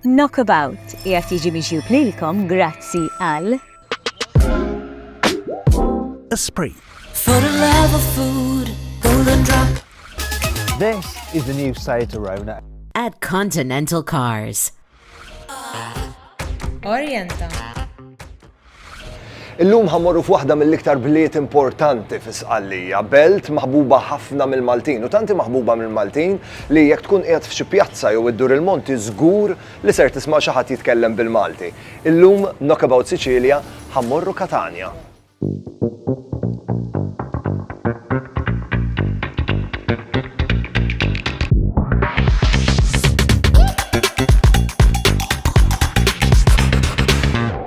Knockabout qiegħed jiġi miġjub lilkom grazzi għal. Esprit. For the love of food, golden drop. This is the new Seat Arona. At Continental Cars. Orienta. Illum ħa mmorru f'waħda mill-iktar bliet importanti fi Sqallija, belt maħbuba ħafna mill-Maltin u tant hi maħbuba mill-Maltin li jekk tkun qiegħed f'xi pjazza jew iddur il-monti żgur li ser tisma' xi ħadd jitkellem bil-Malti. Illum f'Knockabout Sicilia ħa mmorru Katanja.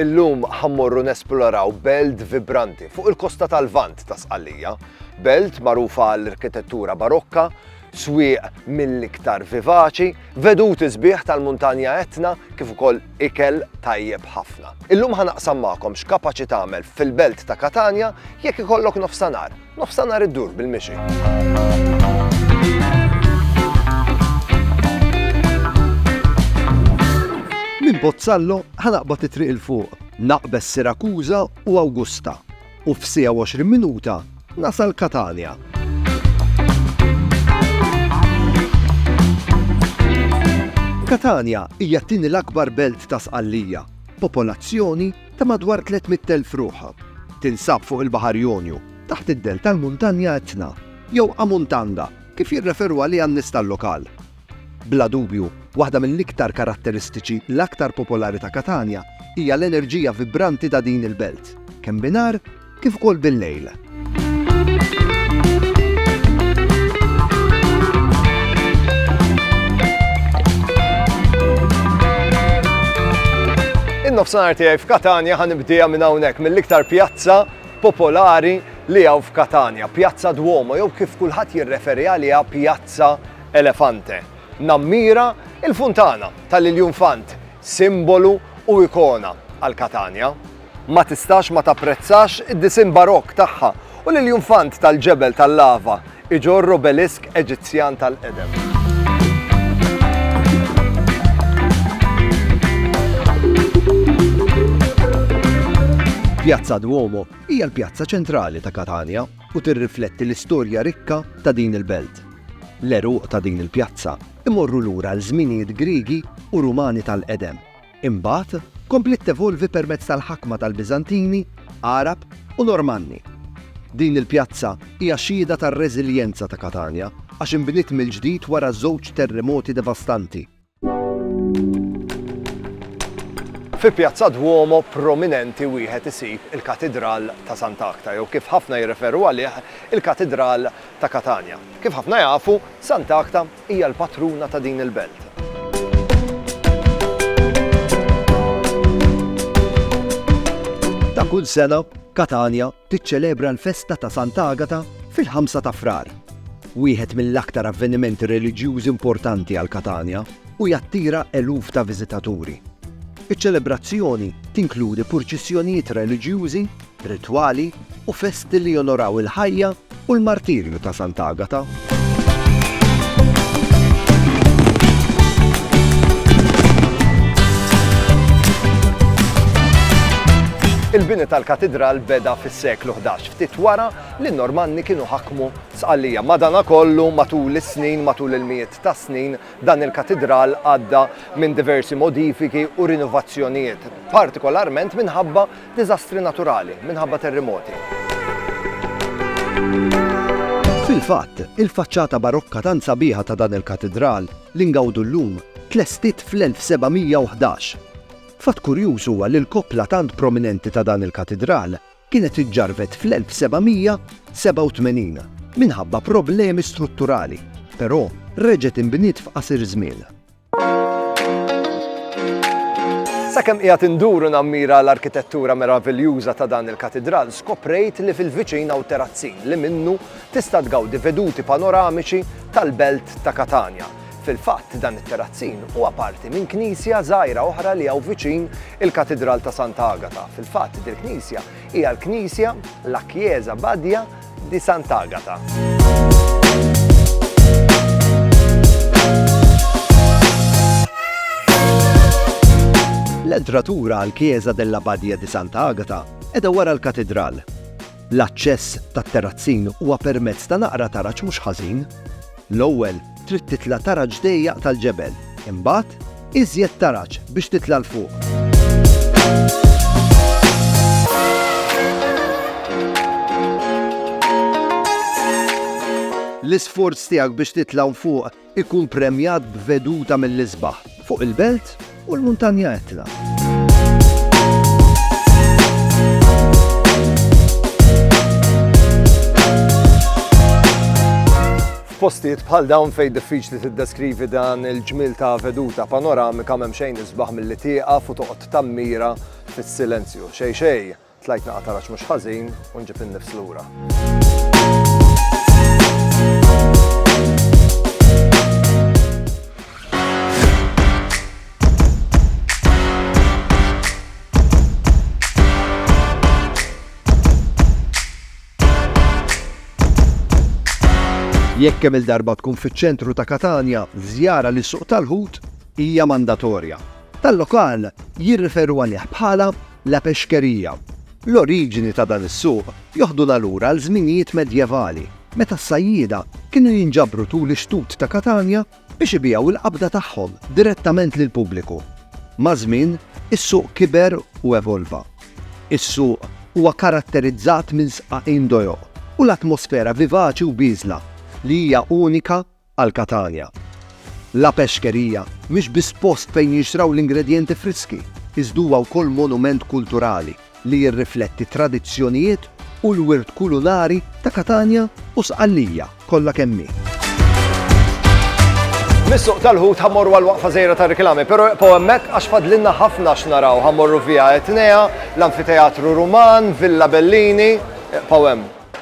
Illum ħa mmorru nesploraw belt vibranti fuq il-kosta tal-Lvant ta' Sqallija. Belt magħrufa għall-arkitettura barokka, swieq mill-iktar vivaċi, veduti sbieħ tal-Muntanja Etna kif ukoll ikel tajjeb ħafna. Illum ħa naqsam magħkom x'kapaċi tagħmel fil-belt ta' Katanja jekk ikollok nofsanhar Nofsanhar iddur bil-mixi. Minn Pozzallo ħanaqbad it-triq il fuq, naqbes Sirakuża u Awgusta u f'sija 20 minuta nasal Katania. Katania hija t-tieni l-akbar belt ta' Sqallija, popolazzjoni ta' madwar 300,000 ruħ, tinsab fuq il-Baħar Jonju, taħt id-dell tal-Muntanja Etna, jew Amuntanda, kif jirreferu għaliha n-nies tal-lokal. Bla dubju, waħda mill-iktar karatteristiċi l-aktar popolari ta' Katanja hija l-enerġija vibranti ta' din il-belt, kemm bi nhar, kif ukoll bil-lejl. nofsinhar tiegħi f'Katanja ħan nibdieha minn hawnhekk mill-iktar pjazza popolari li hawn f'Katanja, Pjazza Duomo jew kif kulħadd jirreferi għaliha Pjazza Elefante. Nammira il-funtana tal-Iljun Fant, simbolu u ikona għal Katanja. ma tistax ma tapprezzax id-disinn Barokk tagħha u l-iljunfant tal-ġebel tal-lava iġorr obelisk Eġizzjan tal-qedem. Pjazza Duomo hija l-pjazza ċentrali ta' Katanja u tirrifletti l-istorja rikka ta' din il-belt. L-għeruq ta' din il-pjazza imorru lura għal żminijiet Griegi u Rumani tal-qedem. Imbagħad, kompliet tevolvi permezz tal-ħakma tal-Biżantini, Għarab, u Normanni. Din il-pjazza hija xhieda tar-reżiljenza ta' Katanja għax inbniet mill-ġdid wara żewġ terremoti devastanti. Fi Pjazza Duomo prominenti wieħed isib il-Katidral ta' Sant'Agta jew kif ħafna jirreferu għalih il-Katidral ta' Katanja. Kif ħafna jafu, Sant'Agta Hija l-patruna ta' din il-belt. Ta' kull sena, Katanja tiċċelebra l-festa ta' Sant'Agata fil-ħamsa ta' Frar. Wieħed mill-aktar avvenimenti reliġjużi importanti għal Katanja u jattira eluf ta' viżitaturi. Iċ-ċelebrazzjoni tinkludi purċissjonijiet reliġjużi ritwali u festi li jonoraw il-ħajja u l-martirju ta' Sant'Agata. Il-bini tal-katidral beda fis-seklu 11 ftit wara li n-Normanni kienu ħakmu sqallija. Madana kollu matul is-snin, matul il-mijiet ta' snin, dan il-katidral għadda minn diversi modifiki u rinnovazzjonijiet, partikolarment minħabba Diżastri naturali minħabba terrimoti. Fil-fatt, il-faċċata barokka tant sabiħa ta' dan il-katidral, li ngawdu llum, tlestiet fl-1711. Fatt kurjuż huwa li l-koppla tant prominenti ta' dan il-katidral kienet iġġarrbet fl-1787 minħabba problemi strutturali, però reġgħet inbniet f'qasir żmien. Sakemm qiegħed induru nammira l-arkitettura meraviljuża ta' dan il-katidral, skoprejt li fil-viċin hawn terazzin li minnu tista' tgawdi veduti panoramiċi tal-belt ta' Katanja. Fil-fatt, dan it-terazzin huwa parti minn knisja żgħira oħra li hawn viċin il-Katidral ta' Santa Agata. Fil-fatt, dil-knisja hija l-knisja La Chiesa Badia di Sant'Agata. L-entratura għal Chiesa della Badia di Santa Agata edha wara l-katidral. L-aċċess tat-terrazzin huwa permezz ta' naqra taraġ mhux ħażin. L-ewwel Trid titla' taraġ dejjaq tal-ġebel, imbagħad, iżjed taraġ biex titla' 'l fuq. L-isforz tiegħek biex titla' 'l fuq ikun premjat b'veduta mill-isbaħ. Fuq il-belt u l-muntanja Etna. F'postijiet bħal dawn fejn diffiċli tiddeskrivi dan il-ġmil ta' veduta panoramika m'hemm xejn isbaħ milli tieqaf u toqgħod tammira fis-silenzju. Xej xej, Tlajt naqgħa taraġ mhux ħażin u nġib in-nifs lura. Jekk kemm il-darba tkun fiċ-ċentru ta' Katanja, żjara li suq tal-ħut hija mandatorja. Tal-lokal jirriferu għalih bħala La Pesceria. L-oriġini ta' dan is-suq joħduna lura għal żminijiet medjevali, meta s-sajjieda kienu jinġabru tul ix-xtut ta' Katanja biex ibigħu l-qabda tagħhom direttament lill-pubbliku. Maż-żmien, is-suq kiber u evolva. Is-suq huwa karatterizzat minn sqaqin dojoq u l-atmosfera vivaċi u bieżla li hija unika għal Catania. La Pesceria mhix biss post fejn jinxtraw l-ingredjenti friski, iżda huwa wkoll monument kulturali li jirrifletti t-tradizzjonijiet u l-wirt kulinari ta' Catania u Sqallija kollha kemm hi. Mis-Suq tal-Ħut ħa mmorru għal waqfa żgħira ta' riklami, però ibqgħu hemmhekk għax fadlilna ħafna x'naraw. Ħa mmorru Via Etnea, l-Anfiteatru Ruman, Villa Bellini, ibqgħu hemm.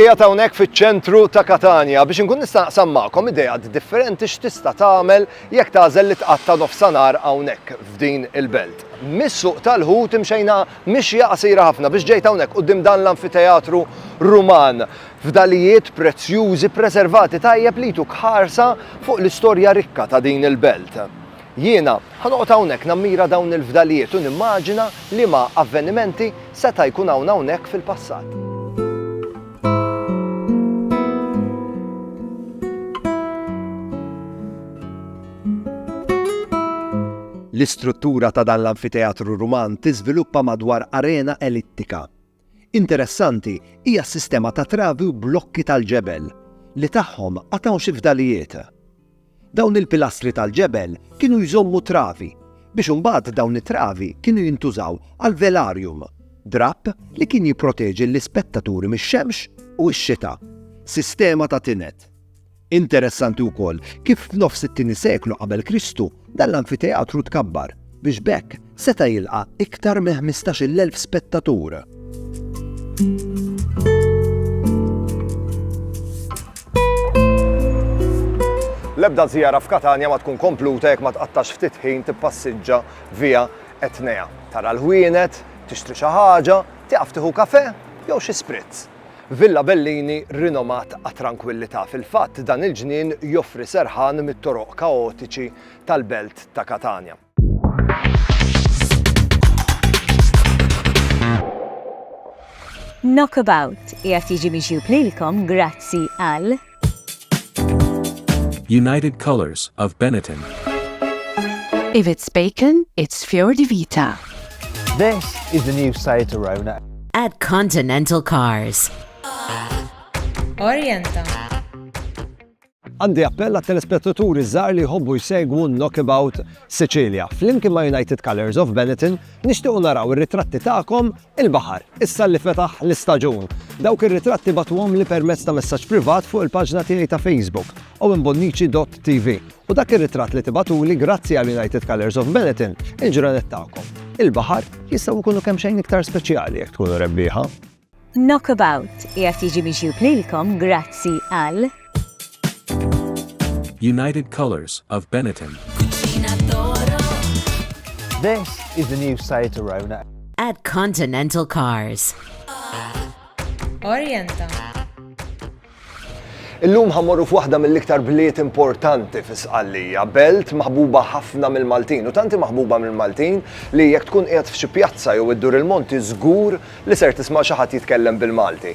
Ija tawnek fiċ-ċentru ta' Katania biex inkun nista' naqsam magħkom idejat differenti x'tista' tagħmel jekk tagħżel li tqatta' nofsanar hawnhekk f'din il-belt. Mis-suq tal-ħut imxejna mixja qasira ħafna biex ġejt hawnhekk qudiem dan l-anfiteatru Ruman. Fdalijiet prezzjużi ppreservati tajjeb li jtuk ħarsa fuq l-istorja rikka ta' din il-belt. Jiena, ħa noqgħod hawnhekk nammira dawn il-fdalijiet u nimmaġina liema avvenimenti seta' jkun hawn hawnhekk fil-passat. L-istruttura ta' dan l-anfiteatru Ruman tiżviluppa madwar arena ellittika. Interessanti hija s-sistema ta' travi u blokki tal-ġebel li tagħhom għad hawn xi fdalijiet. Dawn il-pilastri tal-ġebel kienu jżommu travi biex imbagħad dawn it-travi kienu jintużaw għal velarium, drapp li kien jipproteġi l-ispettaturi mix-xemx u x-xita. Sistema ta' tined. Interessanti wkoll kif f'nofs it-tieni seklu qabel Kristu dan l-anfiteatru tkabbar biex b'hekk seta' jilqa' iktar minn ħmistax-il elf spettatur. L-ebda żjara f'Katanja ma tkun kompluta jekk ma tqattax ftit ħin tippassiġġa via Etnea. Tara l-ħwienet, tixtri xi ħaġa, tieqaf tieħu kafè jew xi spritz. Villa Bellini rinomat għat-trankwillità, fil-fatt dan il-ġnien joffri serħan mit-toroq kaotiċi tal-belt ta' Katanja. Knockabout qiegħed jiġi miġjub lilkom grazzi għal. United Colors of Benetton. If it's bacon, it's Fior di Vita. This is the new Seat Arona. At Continental Cars. Orienta. Għandi appell għat telespettaturi żgħar li jħobbu jsegwu Knockabout Sicilia. Flimkien ma' United Colors of Benetton nixtiequ naraw ir-ritratti tagħkom Il-baħar, issa li fetaħ l-istaġun. Dawk ir-ritratti bagħtuhomli permezz ta' messaġġ privat fuq il-paġna tiegħi ta' Facebook, owenbonnici.tv, u dak ir-ritratt li tibagħtuli grazzi għal United Colours of Benetton, il-ġranet tagħkom. Il-baħar jistgħu jkunu kemmxejn iktar speċjali jekk tkunu rebbieħa. Knockabout qiegħed jiġi miġjub lilkom grazzi għal. United Colors of Benetton. This is the new Seat Arona. At Continental Cars. Orienta. Illum ħammorru f'waħda mill-iktar bliet importanti fi Sqallija, belt maħbuba ħafna mill-Maltin u tanti maħbuba mill-Maltin li jekk tkun qiegħed f'xi pjazza jew iddur il-monti żgur li ser tisma' xi ħadd jitkellem bil-Malti.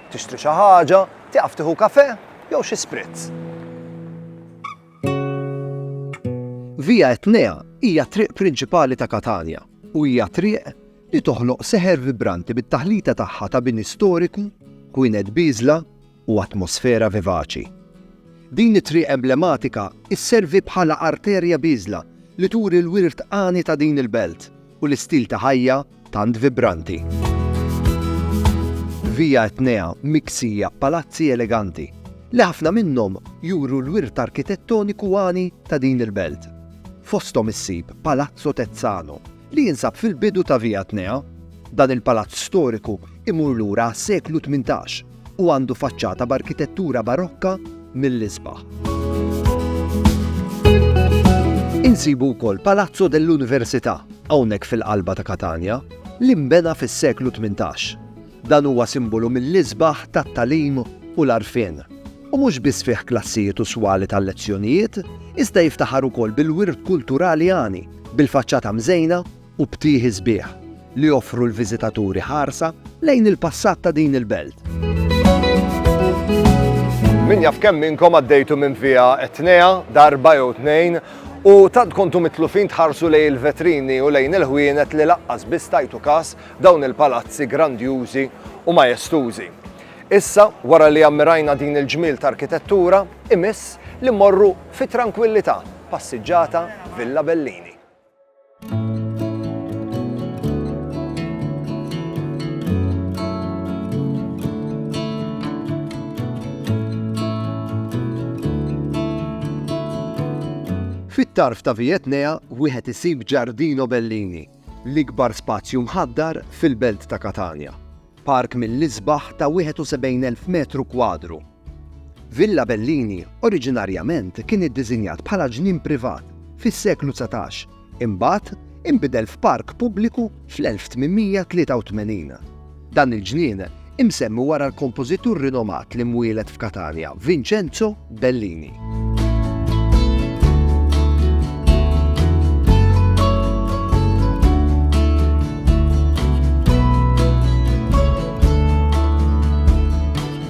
Tixtri xi ħaġa, tieqaf tieħu kafè jew xi spritz. Via Etnea hija t-triq prinċipali ta' Katanja u hija triq li toħloq seħer vibranti bit-taħlita tagħha ta' bini storiku, kwinet bieżla u atmosfera vivaċi. Din it-triq emblematika sservi bħala arterja bieżla li turi l-wirt għani ta' din il-belt u l-istil ta' ħajja tant vibranti. Via Etnea miksija b'palazzi eleganti, li ħafna minnhom juru l-wirt arkitettoniku għani ta' din il-belt. Fosthom issib Palazzo Tezzano, li jinsab fil-bidu ta' Via Etnea. Dan il-palazz storiku jmur lura għas-seklu tmintax. u għandu faċċata b'arkitettura Barokka mill-isbaħ. Insibu wkoll Palazzo dell'Università hawnhekk fil-qalba ta' Katanja li nbena fis-seklu 18. Dan huwa simbolu mill-isbaħ tat-talim u l-arfien u mhux biss fih klassijiet u swali tal-lezzjonijiet, iżda jiftaħar ukoll bil-wirt kulturali għani, bil-faċċata mżejna u btieħi sbieħ li joffru l-viżitaturi ħarsa lejn il-passat ta' din il-belt. Min jaf kemm minnkom għaddejtu minn via Etnea darba jew tnejn u tant kontu mitlufin tħarsu lej il-vetrini u lejn il-ħwienet li laqqas biss tajtu kas dawn il-palazzi grandjużi u majestużi. Issa, wara li ammirajna din il-ġmil ta' arkitettura, imiss li morru fit tranquillità passiġġata Villa Bellini. Fit-tarf ta' Vietnea wieħed isib Ġardino Bellini, l-ikbar spazju mħaddar fil-belt ta' Katanja. Park mill-isbaħ ta' 71,000 metru kwadru. Villa Bellini oriġinarjament kien iddiżinjat bħala ġnien privat fis-seklu dsatax, imbagħad inbidel f'park pubbliku fl-1883. Dan il-ġnien imsemmi wara l-kompożitur rinomat li mwieled f'Katanja, Vincenzo Bellini.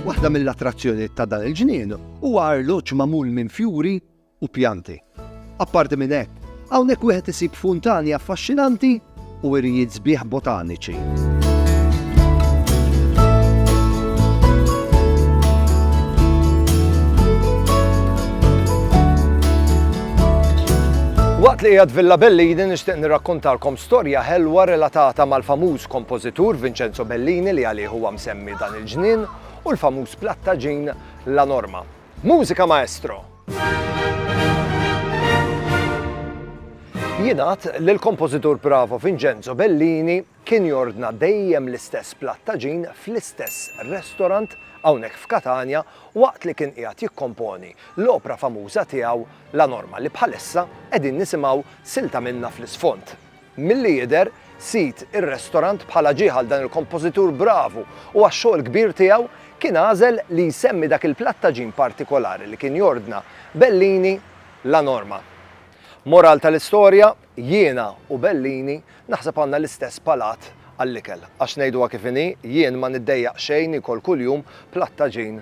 Waħda mill-attrazzjonijiet ta' dan il-ġnien huwa arloġġ magħmul minn fjuri u pjanti. Apparti minn hekk, hawnhekk wieħed isib funtani affaxxinanti u wirjiet sbieħ botaniċi. Waqt li qiegħed Villa Bellini nixtieq nirrakkontalkom storja ħelwa relatata mal-famuż kompożitur Vincenzo Bellini li għalih huwa msemmi dan il-ġnien u l-famuż plattaġin La Norma. Mużika Maestro! Jingħad li l-kompożitur Bravo Vincenzo Bellini kien jordna dejjem l-istess platt ta' ġin fl-istess restorant hawnhekk f'Katanja waqt li kien qiegħed jikkomponi l-opra famuża tiegħu La Norma li bħalissa qegħdin nisimgħu silta minnha fl-isfond. Milli jidher, sid ir-restorant bħala ġie għal dan il-kompożitur bravu u għax-xogħol kbir tiegħu, kien għażel li jsemmi dak il-platt ta' ġin partikolari li kien jordna Bellini La Norma. Moral tal-istorja, jiena u Bellini naħseb għandna l-istess palat għall-ikel. Għax ngħiduha kif inhi, jien ma niddejjaq xejn niekol kuljum platt ta' ġin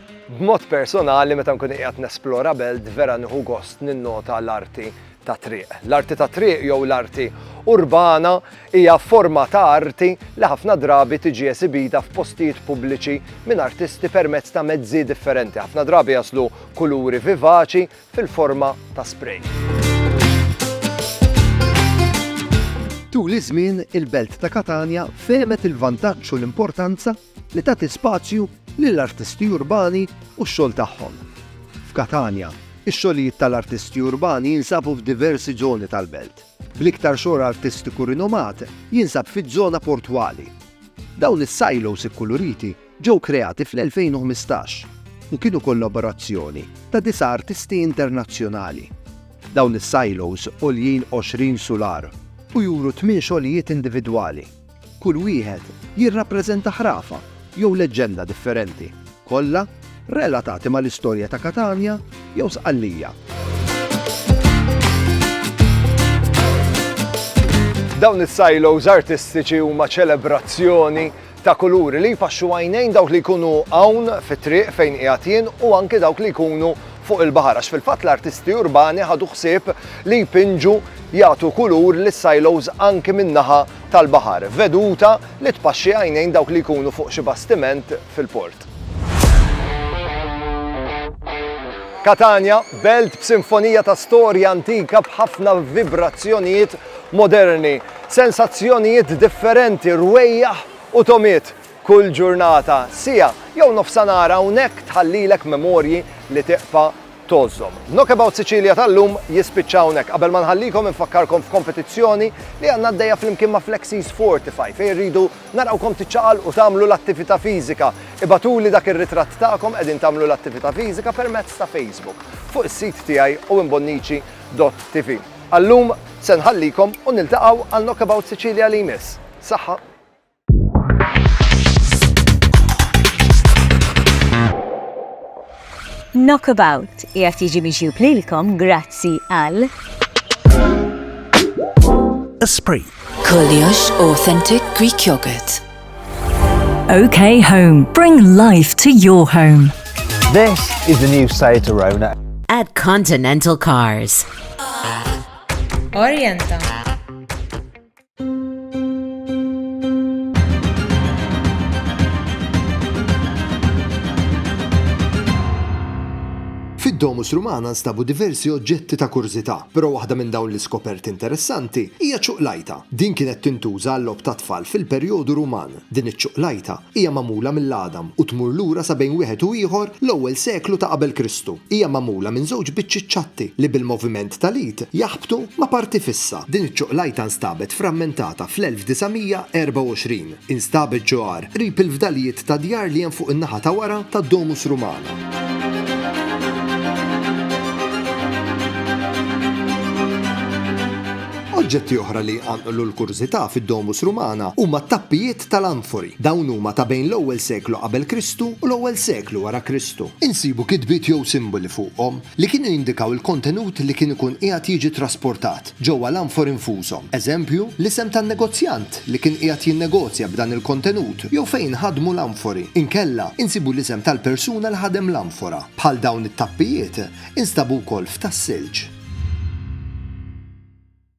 B'mod personali meta nkun qiegħed nesplora belt vera nieħu gost ninnota l-arti tat-triq. L-arti tat-triq jew l-arti urbana hija forma ta' arti li ħafna drabi tiġi esibita f'postijiet pubbliċi minn artisti permezz ta' mezzi differenti. Ħafna drabi jaslu kuluri vivaċi fil-forma ta' spray. Tul iż-żmien, il-belt ta' Katanja fehmet il-vantaġġ u l-importanza li tagħti spazju lill-artisti urbani u x-xogħol tagħhom. F'Katanja, ix-xogħlijiet tal-artisti urbani jinsabu f'diversi żoni tal-belt, bl-iktar xogħol artistiku rinomat jinsab fiż-żona portwali. Dawn is-silos ikkuluriti ġew kreati fl-2015 u kienu kollaborazzjoni ta' disa' artisti internazzjonali. Dawn is-silos għoljin 20 sular u juru tmien xogħlijiet individwali. Kull wieħed jirrappreżenta ħrafa jew leġġenda differenti, kollha relatati mal-istorja ta' Katanja jew Sqallija. Dawn is-silos artistiċi huma ċelebrazzjoni ta' kuluri li jfaxxu għajnejn dawk li jkunu hawn fit-triq fejn qiegħed jien u anke dawk li jkunu fuq il-baħar għax fil-fatt l-artisti urbani ħadu ħsieb li jpinġu jagħtu kulur lis silos anke min-naħa tal-baħar, veduta li tpaxxi għajnejn dawk li jkunu fuq xi bastiment fil-port. Katanja, belt b'sinfonija ta' storja antika b'ħafna vibrazzjonijiet moderni, sensazzjonijiet differenti, rwejjaħ u togħmiet. Kull ġurnata, siegħa jew nofsanhar hawnhekk tħallilek memorji li tiqfa' tgħożżhom. Knockabout Sicilia tal-lum jispiċċa hawnhekk. Qabel ma nħallikom infakkarkom f'kompetizzjoni li għandna għaddejja flimkien ma' Flexies Fortify fejn irridu narawkom tiċċaqalqu tagħmlu l-attività fiżika. Ibagħtuli dak ir-ritratt tagħkom qegħdin tagħmlu l-attività fiżika permezz ta' Facebook fuq is-sit tiegħi owenbonnici dott TV. Għal-lum se nħallikom u niltaqgħu għal Knockabout Sicilia li jmiss. Saħħa! Knockabout qiegħed jiġi mixjub lilkom grazzi għal Esprit. Koljox Authentic Greek Yogurt. OK Home. Bring life to your home. This is the new Seat Arona. At Continental Cars. Orienta. Fid-Domus Rumana nstabu diversi oġġetti ta' kurżità, però waħda minn dawn l-iskoperti interessanti hija ċuqlajta. Din kienet tintuża għal-logħob tat-tfal fil-perjodu Ruman. Din iċ-ċuqlajta hija magħmula mill-għadam u tmur lura sa bejn wieħed u ieħor l-ewwel seklu ta' qabel Kristu. Hija magħmula minn żewġ biċċiet ċatti li bil-moviment tal-id jaħbtu ma' parti fissa. Din iċ-ċuqlajta nstabet frammentata fl-1924. Instabet ġo għar, qrib il-fdalijiet ta' djar li hemm fuq in-naħa ta' wara tad-Domus Rumana. Oġġetti oħra li jqanqlu l-kurżità fid-Domus Rumana huma t-tappijiet tal-anfori. Dawn huma ta' bejn l-ewwel seklu qabel Kristu u l-ewwel seklu wara Kristu. Insibu kitbiet jew simboli fuqhom li kienu jindikaw il-kontenut li kien ikun qiegħed jiġi trasportat ġewwa l-anfori nfushom. Eżempju, l-isem tan-negozjant li kien qiegħed jinnegozja b'dan il-kontenut jew fejn inħadmu l-anfori. Inkella, insibu l-isem tal-persuna li ħadem l-anfora. Bħal dawn it-tappijiet, Instabu wkoll f'Tas-Silġ.